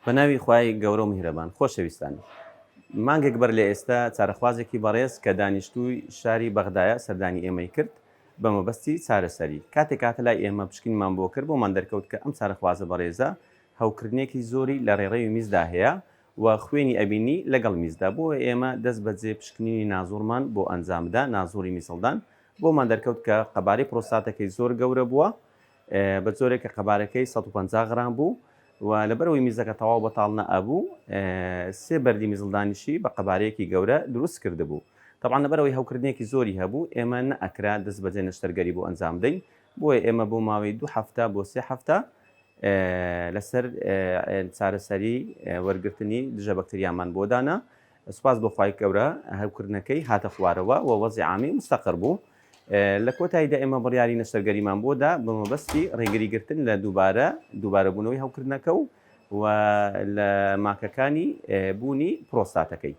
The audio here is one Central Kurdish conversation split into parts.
بە ناوی خوای گەورە و میهرەبان. خۆشەویستان، مانگێک بەر لە ئێستا چارەخوازێکی بەڕێز کە دانیشتووی شاری بەغدایە سەردانی ئێمەی کرد بە مەبەستی چارەسەری. کاتێک هاتە لای ئێمە پشکنینمان بۆ کرد بۆمان دەرکەوت کە ئەم چارەخوازە بەڕێزە هەوکردنێکی زۆری لە ڕێڕەوی میزدا هەیە و خوێنی ئەبینی لەگەڵ میزدا بۆیە ئێمە دەست بەجێ پشکنینی نازوڕمان بۆ ئەنجامدا نازوڕی میزهەڵدان بۆمان دەرکەوت کە قەبارەی پرۆستاتەکەی زۆر گەورە بووە بە جۆرێک کە قەبارەکەی سەد و پەنجا غرام بوو و لەبەرەوەی میزەکە تەواو بەتاڵ نەئەبوو، سێ بەردی میزڵدانیشی بە قەبارەیەکی گەورە دروست کردبوو. تەبعەن لەبەرەوەی هەوکردنێکی زۆری هەبوو، ئێمە نەئەکرا دەستبەجێ نەشتەرگەری بۆ ئەنجام بدەین، بۆیە ئێمە بۆ ماوەی دوو هەفتە بۆ سێ هەفتە لەسەر چارەسەری وەرگرتنی دژە بەکتریامان بۆ دانا سوپاس بۆ خوای گەورە هەوکردنەکەی هاتە خوارەوە و وەزعی عامی مستەقر بوو. لە کۆتاییدا ئێمە بڕیاری نەشتەرگەریمان بۆ دا بە مەبەستی ڕێگریگرتن لە دووبارە دووبارەبوونەوەی هەوکردنەکە و و لە ماکەکانی بوونی پرۆستاتەکەی.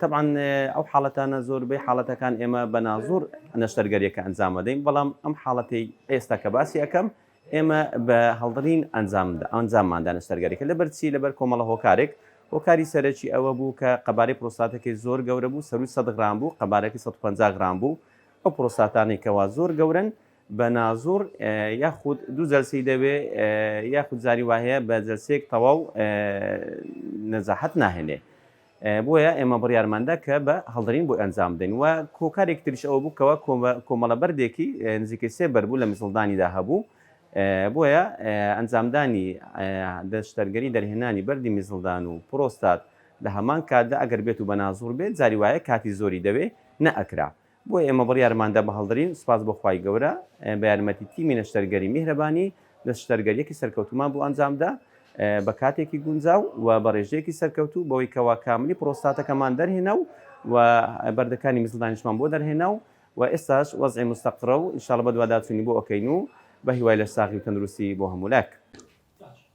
تەبعەن ئەو حاڵەتانە زۆربەی حاڵەتەکان ئێمە بە نازوور نەشتەرگەریەکە ئەنجام دەدەین، بەڵام ئەم حاڵەتەی ئێستا کە باسی ئەکەم ئێمە بە هەڵدڕین ئەنجاممان دا نەشتەرگەرییەکە، لەبەر چی؟ لەبەر کۆمەڵە هۆکارێک، هۆکاری سەرەکی ئەوە بوو کە قەبارەی پرۆستاتەکەی زۆر گەورە بوو، سەرووی سەد غرام بوو، قەبارەکەی سەد و پەنجا غرام بوو، ئەو پرۆستاتانەی کەوا زۆر گەورەن بە نازوڕ یاخود دوو جەلسەی دەوێ یاخود جاری وا هەیە بە جەلسەیەک تەواو نەجاحەت ناهێنێ. بۆیە ئێمە بڕیارماندا کە بە هەڵدرین بۆی ئەنجام بدەین و هۆکارێکی تریش ئەوە بوو کەوا کۆمەڵە بەردێکی نزیکەی سێ بەرد بوو لە میزڵدانیدا هەبوو، بۆیە ئەنجامدانی دەشتەرگەری دەرهێنانی بەردی میزڵدان و پرۆستات لە هەمان کاتدا ئەگەر بێت و بەنازوڕ بێت جاری وایە کاتی زۆری دەوێ نەئەکرا. بۆیە ئێمە بڕیارماندا بەهەڵدرین، سوپاس بۆ خوای گەورە بە یارمەتی تیمی نەشتەرگەری میهرەبانی نەشتەرگەریەکی سەرکەوتومان بۆ ئەنجامدا بە کاتێکی گونجاو و بە ڕێژەیەکی سەرکەوتوو بەوەی کەوا کاملی پڕۆستاتەکەمان دەرهێنا و و بەردەکانی میزڵدانیشمان بۆ دەرهێنا و و ئێستاش وەزعی مستەقڕە و ئینشاڵڵە بەدواداچوونی بۆ ئەکەین و بەهیوای لەشساغی و تەندروستی بۆ هەموولایەک.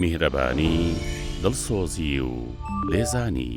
میهرەبانی، دڵسۆزی و لێزانی.